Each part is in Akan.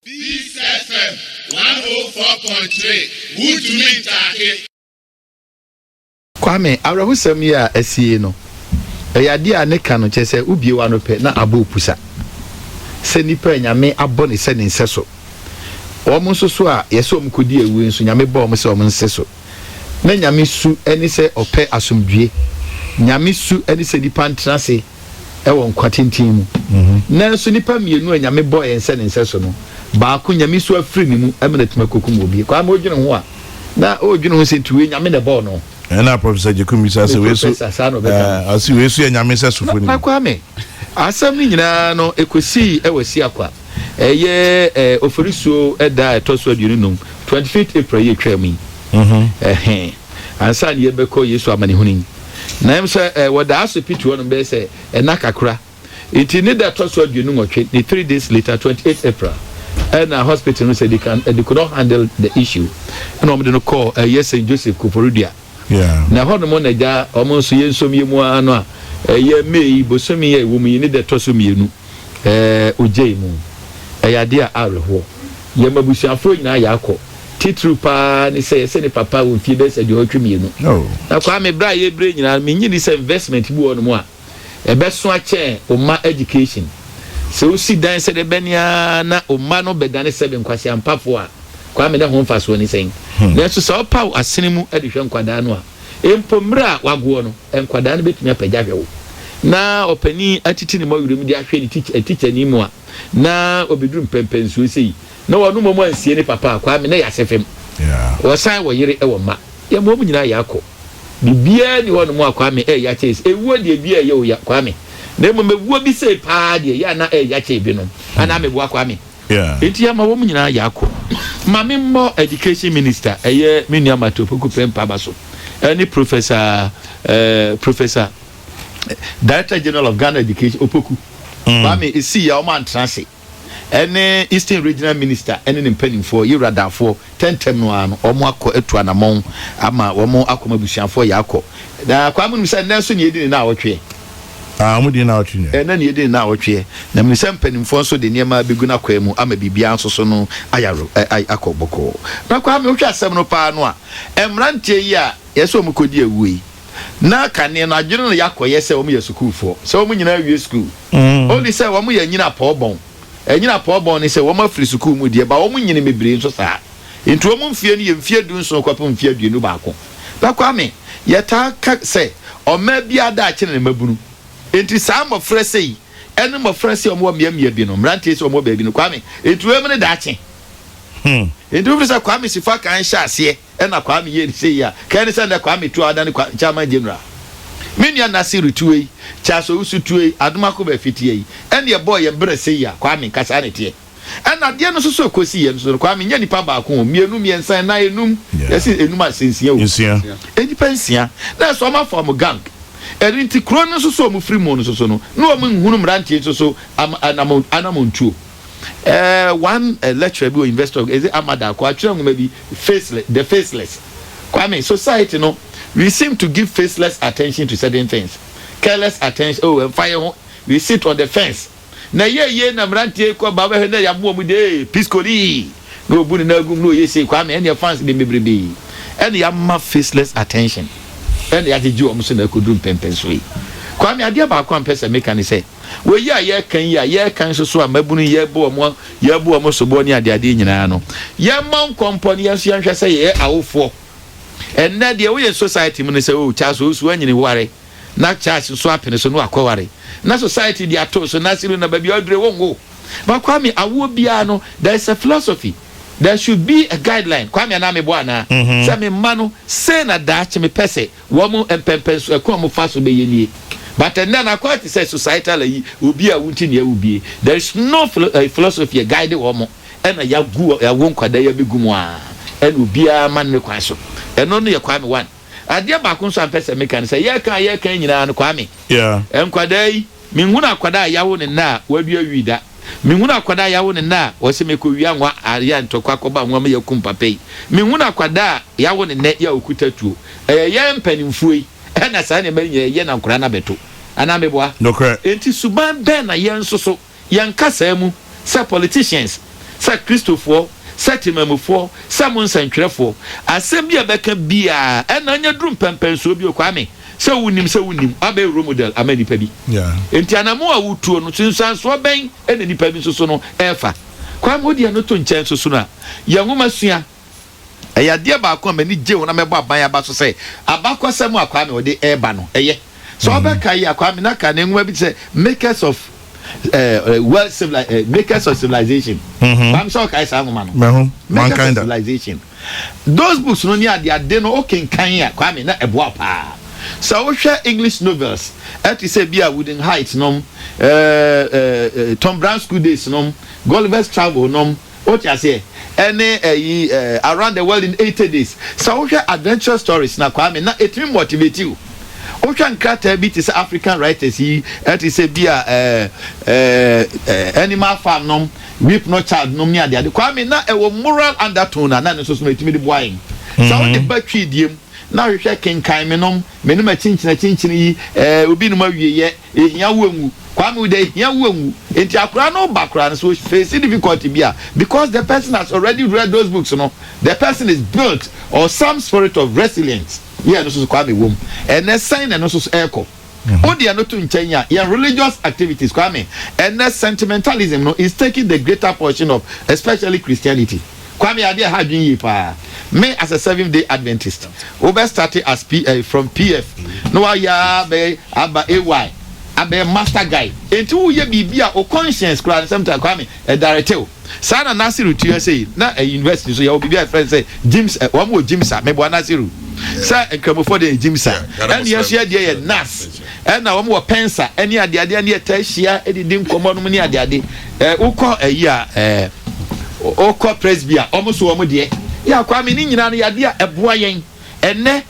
Peace FM one oh four point three wuntumi ntaake. Kwame, awerɛhosɛm yi a asi yi no, ɛyɛ adeɛ a ne ka no kyerɛ sɛ wobie w'ano pɛ na abɔ opusa. Sɛ nipa a Nyame abɔ ne sɛ ne nsɛso, wɔn nso so a yɛsɛ wɔn kɔdi awu nso Nyame bɔɔ wɔn sɛ wɔn nseso. Na Nyame su ne sɛ ɔpɛ asomdwoe. Nyame su ne sɛ nnipa ntena ase wɔ nkwa tenten mu. Nanso nnipa mmienu a Nyame bɔɔ yɛn sɛ ne nsɛso no, baako Nyame su afiri ne mu ma no atumi akɔkum obi. Kwame, wodwene ho a, na woredwene ho sɛ nti wei Nyame na ɛbɔɔ no? Ɛna Professor Gyekun bisaa sɛ, Wei su, eh, ɔse wei su yɛ Nyame nsɛsofo ni? Na Kwame, asɛm no nyinaa no, ɛkɔsii wɔ Siakwa. ɛyɛ ɛɛ Oforisuo ɛda a ɛtɔ so aduonu num, twenty fifth April yi atwa mu yi. Mhm. Ɛhɛn. Ansa na yɛbɛkɔ Yesu amanehunu yi. Na ɛm sɛ ɛɛ wɔ da asopiti hɔ nom bɛyɛ sɛ ɛna kakra. Nti ne da ɛtɔ so aduonu nwɔtwe, ne three days later, twenty eighth April, ɛna hospital no sɛ they can, they could not handle the issue, ɛna wɔn de no kɔɔ ɛyɛ Saint Joseph Koforidua. Na ɛhɔ nom na agya a wɔn nso yɛ nsomyɛ mu ara no a ɛyɛ May bosome yi a ɛwɔ mu yi ne da ɛtɔ so mmienu ɔgyai mu. Ɛyɛ adeɛ a awerɛhoɔ. Yɛn m'abusuafoɔ nyinaa yɛakɔ. Titiriw pa ara ne sɛ yɛsɛ ne papa wɔ mfie bɛyɛ sɛ aduɔwɔtwe mmienu. Na Kwame berɛ a yɛbrɛ nyinaa no mennye nni sɛ investment bi wɔ hɔ nom a ɛbɛsoa kyɛn wo mma education. Sɛ wosi dan sɛ dɛ bɛn ara na wo mma no bɛdane seven nkwaseampafo a, Kwame ne ho mfasoɔ ne sɛn? Nanso sɛ wopaw asene mu de hwɛ nkwadaa no a, mpo mmerɛ a wagoɔ no, nkwadaa no bɛtumi apagya ahwɛ wo. Na ɔpanin atiti ne mɔwerɛ mu de ahwɛ ne tikya tikyani mu a, na ɔbɛduru mpɛnpɛnsoɔ sei. Na ɔno mmom ansie ne papa a, Kwame, na ɛyɛ asefem. Wɔsan wɔ yere wɔ mma. Yɛma wɔn nyinaa yɛ akɔ. Biribiara nni hɔnom a Kwame ɛyɛ ya kyɛn ese. Ewuo deɛ ebiara ɛyɛ o ya, Kwame. Na mmom ewuo bi sei paa deɛ ɛyɛ a na ɛyɛ ya kyɛn ebinom. Anaa meboa, Kwame? Enti yɛma wɔn nyinaa yɛ akɔ. Ma me mmɔ Education Minister, ɛyɛ me nua Martin Opoku Prempeh aba so, ɛne Professor eh, Professor, Director General of Ghana Education, Opoku, Kwame, esii a wɔantra ase. ɛne Eastern Regional Minister ɛne ne mpaninfoɔ yewura Daafoɔ tɛ ntɛm no ara no wɔn akɔ atu anamɔn ama wɔn akɔ ma abusuafoɔ yɛ akɔ na kwaa mo nim sɛ nnɛ nso nea ɛdi ne naawɔtweɛ Ah wɔn di ne naawɔtwe nɛ. Ɛnɛ nea ɛdi ne naawɔtweɛ na menim sɛ mpaninfoɔ nso de nneɛma bɛgu no akwaa mu ama biribiara nso so no ayɛ awerɛ ɛ ayɛ akɔ bɔkɔɔ na kwaa me wohwɛ asɛm no paa no a mmeranteɛ yi a yɛsɛ wɔn kɔdi awuo yi na kane no adwene no yɛ akɔyɛ sɛ wɔyɛ sukuufoɔ, sɛ wɔn nyinaa awie sukuu. Ɔnni sɛ wɔyɛ anyina pɔɔbɔn. Anyina pɔɔbɔn ne sɛ wɔafiri sukuu mu deɛ, but wɔnyini bebree nso saa. Enti wɔn mfeɛ no yɛ mfeɛ dunson kɔpem mfeɛ aduonu baako. Na Kwame, yɛtaa ka sɛ ɔmaa biara daakye ne ne mmabunu. Enti saa mmɔfra sei ne mmɔfra sei a wɔwɔ mmeammea bi no, mmeranteɛ sei a wɔwɔ baabi no, Kwame, enti wɔn ne daakye. Enti wofiri sɛ Kwame Sifakae hyɛɛ aseɛ. Ɛna Kwame yie no sei a. Ka ɛne sɛ ndɛ Kwame tu a wadane Kwa Chairman General. Me nua Nasiru tu ei, Charles Owusu tu ei, Adomakoba Afiti ei. Ɛne ɛbɔɔ yɛ berɛ sei a. Kwame, nka saa na ɛteɛ. Ɛna adeɛ no nso so ɛkɔsi yɛ nso no, Kwame, nyɛ nipa baako o, mmienu, mmiɛnsa, nnan, enum, yɛse enum a, ɛsɛ nsia o. Nsia. Nnipa nsia. Na ɛso wɔn afɔm gang. Ɛno nti kuro no nso so wɔn firi mu no nso so no, na wɔn nhunu mmeranteɛ nso so ama anamon, anamontuo. Eh, one lecturer bi wɔ University of, is it Ahmad Akko, atwerɛ nwoma bi, Faceless, The Faceless. Kwame, society no, we seem to give faceless attention to certain things. Careless attention, oh, ɛmfa yɛn ho, we sit on the fence. Na ɛyɛ yie na mmeranteɛ yi kɔ ba wobɛhwɛ na yɛaboa wɔn de, ee, Piskolii! Na ɔbu ne nan agu mu na ɔyɛ sei, Kwame, ɛnneɛ fans de bebrebe na yɛama faceless attention na yɛagyegye wɔn so na ɛkɔduru mpɛnpɛnsoɔ yi. Kwame, adeɛ baako a mepɛ sɛ meka ne sɛ, Wei a yɛreka yi a yɛreka nso so a mmabunu yi yɛbu wɔn yɛbu wɔn soboɔ ne adeadeɛ nyinaa no, yɛmmɔ nkɔmpɔ na yɛn nso yɛnhwɛ sɛ yɛyɛ awofoɔ. Ɛnnɛ deɛ woyɛ society mu no sɛ oh Charles osu anyini ware na Charles nso apene so na wakɔware na society de ato so na Asiru na baabi a ɔdure wonwo. But Kwame awoɔ biara no there is a philosophy, there should be a guideline Kwame anaa meboa anaa? Sɛ me mma no sei na daakye mepɛ sɛ Wɔn mpɛnpɛnsoɔ kwan a wɔn fa so bɛyɛ nie. But ɛnnɛ no akwan te sɛ societal ayi, obi a wonte nea wobie. There is no philosophy a guide wɔn ɛna yagu yawo nkwadaa yi abɛgu mu aa ɛna obiara ma no ne kwan so. Ɛno no yɛ Kwame one. Adeɛ baako nso a mpɛ sɛ meka no sɛ yɛka a yɛka yi nyinaa no Kwame, Yeah. nkwadaa yi, Menhunu akwadaa a yawo ne nna a wadua wii da. Menhunu akwadaa a yawo ne nna a ɔse mekowia nwa ayɛ ntɔkwa akɔba nwa mu yakum papa yi. Menhunu akwadaa a yawo ne nɛ ya okuta tuo. Ɛyɛ yɛn mpaninfoɔ yi ɛna saa nneɛma yi nyinaa yɛ na nkwadaa no abɛto. Anaa meboa? Nokorɛ. Enti suban bɛn na yɛn nso so yɛn nkasaa mu, sɛ politicians, sɛ Kristofoɔ, sɛ temanmufoɔ, sɛ mo nsɛntwerɛfoɔ, asɛm bi a ɛbɛka biara ɛna anya duru mpɛnpɛnsoɔ bio, Kwame? Sɛ wunim sɛ wunim, woabɛyɛ role model ama nnipa bi. Enti anammɔn a wutuo no, nsunsuansoɔ bɛn na nnipa bi nso so no refa? Kwame, wode ɛno to nkyɛn nso so no a, yɛ nwoma sua. Ɛyɛ adeɛ baako a m'ani gye ho na mɛbɔ aban aba so sɛ, abakɔsɛm a Kwame ɔde reba no, ɛyɛ. Sɛ wobɛkae a, Kwame na ka ne nwoma bi te sɛ Makers of World Civilization, Makers of Civilization. Kwame, sɛ wokae saa nwoma no? Makers of Civilization. Those books no ne ade ade no wokenkan a Kwame na ɛboa wo paa. Sɛ wohwɛ English novels ɛte sɛ bi a Wuthering Heights nom, eh, eh, eh, Tom Brown School Days nom, Gulliver's Travel nom, wote aseɛ, ɛne ɛyi eh, Around the World in 80 Days. Sɛ wohwɛ adventurous stories na Kwame na ɛtumi motivate wo. Wohwɛ nkrataa bi te sɛ African writers yi ɛte sɛ bi a eh, eh, eh, Animal Farm nom, Rape no child nom ne adeade. Kwame, na ɛwɔ moral undertone a na ɛno nso so no ɛtumi de boa yɛn. Sɛ wode ba Twi deɛ mu na ahwehwɛ kenkan me nom, me nom akyinkyini akyinkyini yi, eh, obi nom awieyɛ, ɛhia wo anwu. Kwame, wo deɛ ɛhia wo anwu. Enti akwadaa no reba koraa no, sɛ ɔ face difficulty bi a, because the person has already read those books no, the person is built or some spirit of resilience. Yeah, ɛno nso so Kwame ɛwɔ mu. Ɛnnɛ sɛn na ɛno nso so ɛrekɔ? Wo deɛ no to nkyɛn a, yɛn religious activities, Kwame, ɛnnɛ sentimentalism no is taking the greater portion of especially Christianity. Kwame, adeɛ a ɛha adwene yie paa, me as a Seventh Day Adventist, wobɛ starte as P, eh, from PF, na woayɛ ara abɛyɛ aba AY, abɛyɛ master guy, enti woyɛ biribi a wo conscience koraa no, sometimes, Kwame, ɛdaretew. Saa na Nasiru tua sei. Na university nso yɛwɔ biribi a yɛfrɛ no sɛ gyms, wɔn wɔ gyms a, meboa Nasiru sɛ Nkramofoɔ deɛ yɛ gyms a, ɛna yɛn nso yɛ deɛ yɛ nas, ɛna wɔn wɔ pens a, ɛne adeadeɛ ne yɛtaa hyia didi nkɔmmɔ nom ne adeade. Ɛɛ wokɔ ayi a, ɛɛ wokɔ Presby a, wɔn nso wɔn deɛ yɛ akɔ. I mean ne nyinaa no yɛ adeɛ a ɛboa yɛn ɛnɛ.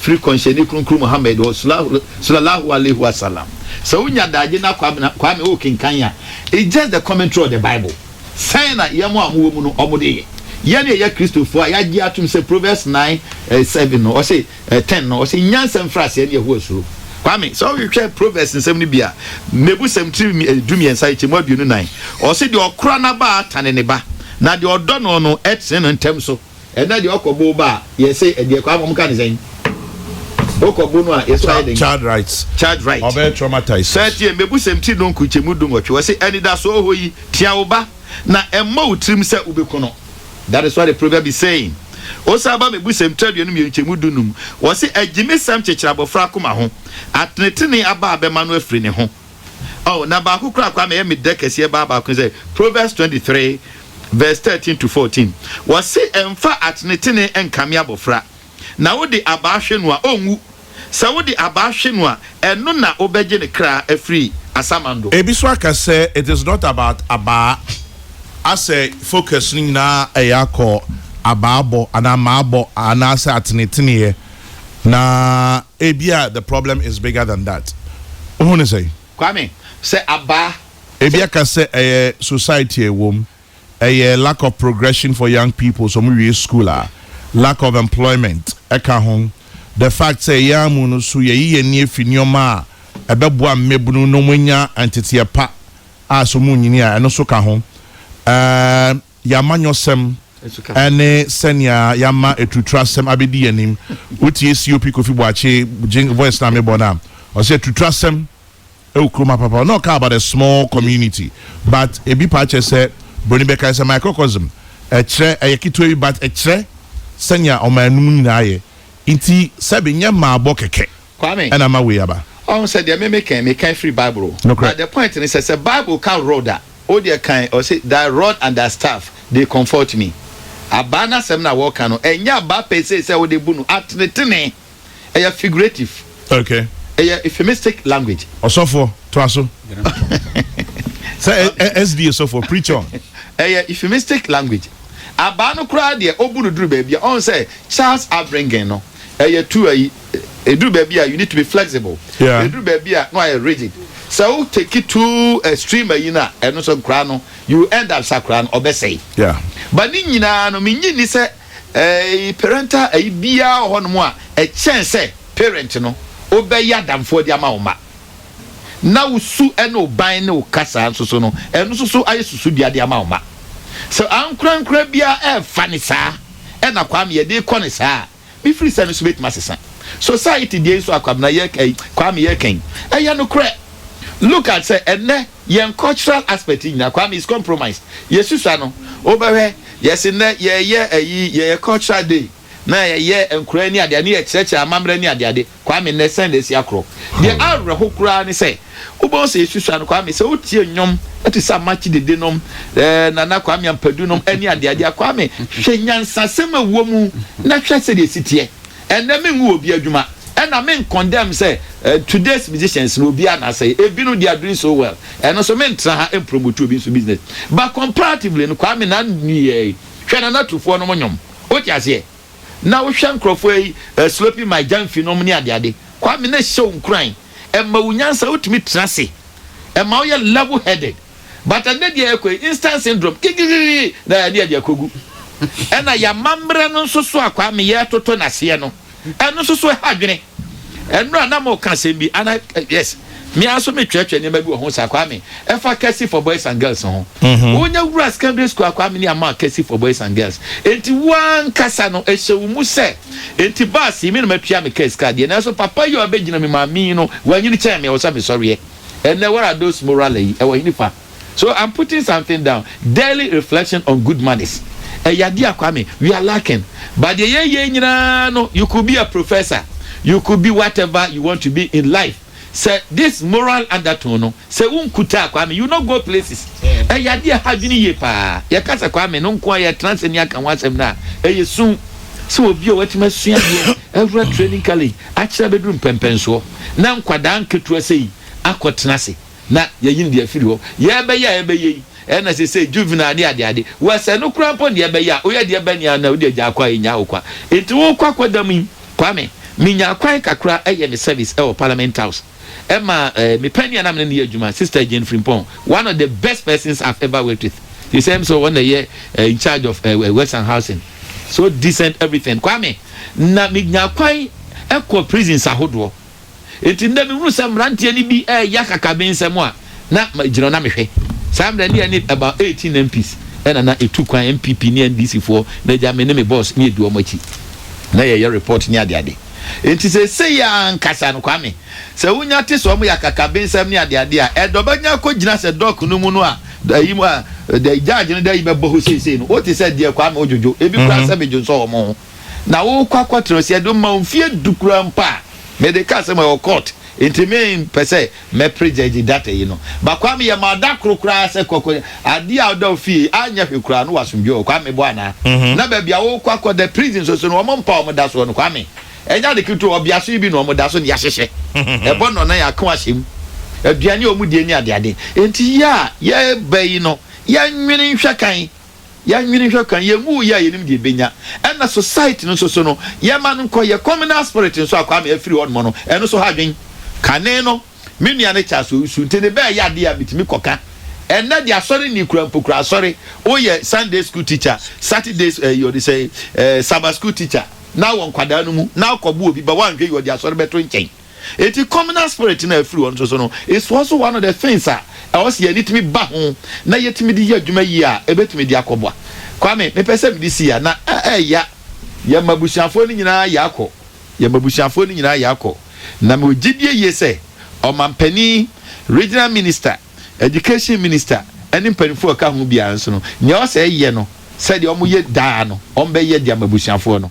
firi Kɔnhyɛni Kronkron Muhammad hɔ Sulallahu Alaihi Wasallam. Sɛ wo nya daagye na Kwame wo kenkan a, it's just the commentary of the Bible. Sɛn na yɛn a wɔn wɔ mu no wɔn de yɛ? Yɛn a yɛyɛ Kristofoɔ a yɛagye atom sɛ Proverbs nine eh, seven no ɔse eh, ten no ɔse nyansa mfiri aseɛ ne Yehowa suro. Kwame, sɛ wohwehwɛ Proverbs nsɛm no bi a, Mmebusɛm tiri eh, du mmiɛnsa ɛkyɛ mu aduonu nan ɔse deɛ ɔkora n'abaa tane ne ba, na deɛ ɔdɔ no no ɛtene no ntɛm so. Ɛnna deɛ ɔkɔ bo ba a, yɛse ɛdeɛ kwaa ma wɔka no sɛn? Wokɔ bo no a, yɛse wayɛ dɛn? Child Rights, Child Rights, Ɔbɛyɛ traumatized. Saa tie mmebusɛm ti no nkurukyɛmu dunwɔtwe, wɔse, Anidasoɔ hɔ yi, tea wo ba, na ɛmmɔ wo tirim sɛ wobɛku no. That is what the proverb is saying. Wosan ba Mmebusɛm ti aduonu mmienu nkyɛmu du-num, wɔse, Agyimesɛm kyekyere abɔfra akoma ho, atenetenee aba a bɛma no afiri ne ho. Oh, na baako koraa koraa na ɛyɛ me dɛ kɛseɛ baa baako ne sɛ, Proverbs twenty three verse thirteen to fourteen, wɔse, Mfa atenetene nkame abɔfra, na wode abaa hwe no a, ɔnwu. Sɛ wode abaa hwe no a, ɛno na wobɛgye ne kra afiri asamando. Ebi nso aka sɛ, It is not about abaa, asɛ focus no nyinaa ɛyɛ akɔ abaa bɔ anaa mmaa bɔ anaasɛ ateneteneɛ. Na ebia the problem is bigger than that. Wohu no sɛn? Kwame, sɛ abaa, sɛ. Ebi aka sɛ ɛyɛ society a ɛwom, ɛyɛ lack of progression for young people, sɛ wɔwie school a, lack of employment ka ho, the fact sɛ yɛn ara mu no nso yɛyi yɛn ani afi nneɛma a ɛbɛboa mmabunu na wɔanya nteteɛ pa a sɛ wɔrenyini a, ɛno nso ka ho. Ɛɛ. yɛn amanyɔsɛm ne sɛnea yɛama aturuturasɛm abɛdi yɛn anim. Wotie COP Kofi Boakye gye voice no a mebɔ no a, ɔsɛ aturuturasɛm ɛwɔ kurom ha papa. Ɔna ɔka about a small community but ebi paa kyerɛ sɛ Broni bɛkae sɛ microcosm ɛkyerɛ ɛyɛ ketewa bi but ɛkyerɛ sɛnea ɔmannom nyinaa yɛ. Nti sɛbe nyɛ mmaabɔ kɛkɛ. Kwame, ɛna ama wei aba. Ɔho sɛ deɛ me me kɛn, me kɛn firi bible o. Nokorɛ. But the point ne sɛ, sɛ bible ka rod a, wo deɛ kan, ɔse, thy rod and thy staff, they comfort me. Abaa no asɛm na wɔka no, ɛnyɛ abaa per se sɛ wode bu no atenetene. Ɛyɛ figurative. Okay. Ɛyɛ euphemistic language. Ɔsɔfoɔ, toa so. Sɛ ɛ, SDA sɔfoɔ, preach on. Ɛyɛ euphemistic language. Abaa no koraa deɛ, ɔbu no duru baabi a, ɔho sɛ Charles Avringen no, ɛyɛ tu ayi eduru baabi a you need to be flexible yeah. eduru baabi a no ayɛ rigid sɛ o take it too extreme ayi na ɛno nso nkora no you end up sakora no ɔbɛsɛe yeah. ba ne nyinaa no mi nyi ni sɛ ɛɛ eh, parental ayi biara wɔ hɔ nom a ɛkyɛn sɛ parent no wobɛyɛ adamfoɔ de ama wo ma na wo su ne wo ban ne wo kasa nso so no ɛno nso so ayɛ susudua de ama wo ma sɛ ankorankora biara ɛɛfa ne saa ɛna Kwame yɛde rekɔ no saa a, me firi sɛ no nso bɛtumi asesa. Society deɛ nso a Kwabena yɛ ɛyi, Kwame yɛ kan yi, ɛyɛ nokorɛ. Look at sɛ ɛnnɛ yɛn cultural aspect nyinaa Kwame is compromised. Yɛsusua no, wobɛhwɛ, yɛse nnɛ yɛyɛ ɛyi, yɛyɛ cultural day, na yɛyɛ nkoraa ni adeade, na yɛkyerɛkyerɛ amamerɛ ni adeade. Kwame nnɛ sɛn na asi akorɔ. Deɛ ɛyɛ awerɛho koraa ne sɛ wobɛhu sɛ yɛsusua no Kwame sɛ wotie nnwom te sɛ Amakye Dede nom, eh, Nana Kwame Ampadu nom ne adeadeɛ a, Kwame hwɛ nyansasɛm a ɛwɔ mu na hwɛ sɛdeɛ ɛsi teɛ. Ɛnnɛ mengu obi adwuma ɛna mencondemn sɛ eh, today's musicians no obiara na asɛe, ebinom they are doing so well, ɛno nso mentra ha mpromote obi nso business but comparatively no Kwame na nneyɛe, hwɛ Nana Tufoɔ nom nnwom, wote aseɛ? na wohwɛ nkorɔfoɔ yi sloping my gyamfi nom ne adeade, Kwame na ɛhyɛ wo nkuran, ɛma wo nyansa, wotumi tena ase, ɛma woyɛ level headed, but ɛnnɛ deɛ ɛkɔ yi, instant syndrome, kikikiki na ɛne ɛde akɔgu, ɛna yɛn amammerɛ no nso so a Kwame yɛretoto no aseɛ no, ɛno nso so ɛha adwene. Ɛnora na mo ka asɛm bi ana yes me ara nso me twerɛtwerɛ nneɛma bi wɔ ho saa kwa me ɛfa kɛse for boys and girls ho mhm. wonya wura secondary school akwa me ne ama kɛse for boys and girls enti woankasa no ɛhyɛ wo mu sɛ enti baas yi me na matua me kɛse ka deɛ nanso papa yi a ɔbɛgyina me maame yi no wanyini kyɛn me ɛwɔ sɛ mesɔreɛ ɛnɛ what are those moral yi ɛwɔ hene fa So I'm putting something down, daily reflection on good manners, ɛyɛ adeɛ a Kwame we are lacking but deɛ yɛyɛ yi nyinaa no you could be a professor, you could be whatever you want to be in life sɛ this moral undertone no sɛ wo nkuta a Kwame you no go places ɛyɛ adeɛ a ɛha adwene yie paa. Yɛka sɛ Kwame no nko ara yɛtena ase ne aka ho asɛm no a ɛyɛ su sɛ obi a watumi asua adeɛ awura training college akyerɛ abɛduru mpɛmpɛnsoɔ na nkwadaa nketewa sɛi akɔtena ase. na yɛayi no de afiri hɔ. Yɛrebɛyɛ a yɛbɛyɛ yi, ɛyɛ na seesei juvenile ne adeade. Wɔsɛe no koraa mpo nea ɛbɛyɛ a woyɛ deɛ ɛbɛn nea na wode agyaa kɔ a ɛnnyaa wo kwa. Enti wokɔ akwadaa mu yi, Kwame, menyaa kwan kakra yɛ me service wɔ Parliament House. Ɛmaa eh, me panin a na me ne no yɛ adwuma, Sister Jane Frimpong, one of the best persons I've ever worked with. She said, ɛm sɛ wɔn na ɛyɛ eh, in charge of eh, eh, Western Housing. So decent everything. Kwame, na menyaa kwan kɔɔ prisons ahodoɔ. Enti nnɛ mehunu sɛ mmeranteɛ no bi reyɛ akakabensɛm a, na megyina hɔ na mehwɛ. Saa mmerɛ no yɛ ne about 18 MPs na na ɛtu kwan, NPP ne NDC foɔ na agya me ne me boss na yɛdi wɔn akyi na yɛyɛ report ne adeade. Enti seesei yi ara ankasa no Kwame, sɛ wonya te sɛ wɔyɛ akakabensɛm ne adeade a, ɛdɔ bɛnya akɔgyina sɛ dock no mu no a, ayi mu a, judge no de ayi bɛbɔ hɔ seesei no, wote sɛ deɛ Kwame odwodwo, ebi koraa sɛ medwonsɔ wɔn ho. na worekɔ akɔtena ɔsi ɛde ma wo mfeɛ du koraa mpo a mede ka asɛm ɛwɔ court nti mempɛ sɛ mɛpere gyagye data yi no ba kwame yɛ ma da koro koraa sɛ kɔ kɔ adeɛ a ɔda wo fie a nyɛ hwe koraa no wɔ asomdwe wɔ kwame meboa anaa na baabi a worekɔ akɔda prison nso so no wɔn mpa wɔn da soɔ no kwame ɛnyɛ ade ketewa ɔbea so yi bi na wɔn da so ne yɛahyehyɛ ɛbɔ nnɔnan ako ahyɛ mu aduane a wɔn die ne adeade nti yɛ a yɛreba yi no yɛnwene nhwɛ kan Yɛnwene nhwɛ kwan, yɛngu wo yɛ a yɛnim deɛ yɛbɛnya. Ɛna society no nso so no, yɛma no nkɔ yɛ communal spirit nso a Kwame afiri hɔ nom no, ɛno nso ha adwene. Kane no, me nua no Charles Owusu nti ne bɛɛyɛ adeɛ a metumi kɔka. Ɛnnɛ deɛ asɔre nni koraa mpo koraa asɔre, woyɛ Sunday school teacher, Saturday eh, wɔde sɛ eh, Sabbath school teacher, na wɔ nkwadaa no mu, na akɔbo obi ba, woanhwɛ yi wɔde asɔre bɛto nkyɛn. Enti communal spirit no a ɛfiri hɔ nso so no, ɛsua nso one of the things a ɛwɔ sɛ yɛn ani tumi ba ho na yɛtumi de yɛ adwuma yie a ɛbɛtumi de akɔboa. Kwame, mepɛ sɛ mede si ha na ɛɛya. Yɛn mmabusuafoɔ no nyinaa yɛ akɔ, yɛn mmabusuafoɔ no nyinaa yɛ akɔ, na mewɔ gyedie yie sɛ Ɔmampanin, Regional Minister, Education Minister ne mpanimfoɔ a ɛka ho biara nso no, nea ɛwɔ sɛ ɛyɛ no sɛdeɛ wɔyɛ daa no, wɔbɛyɛ de ama abusuafoɔ no.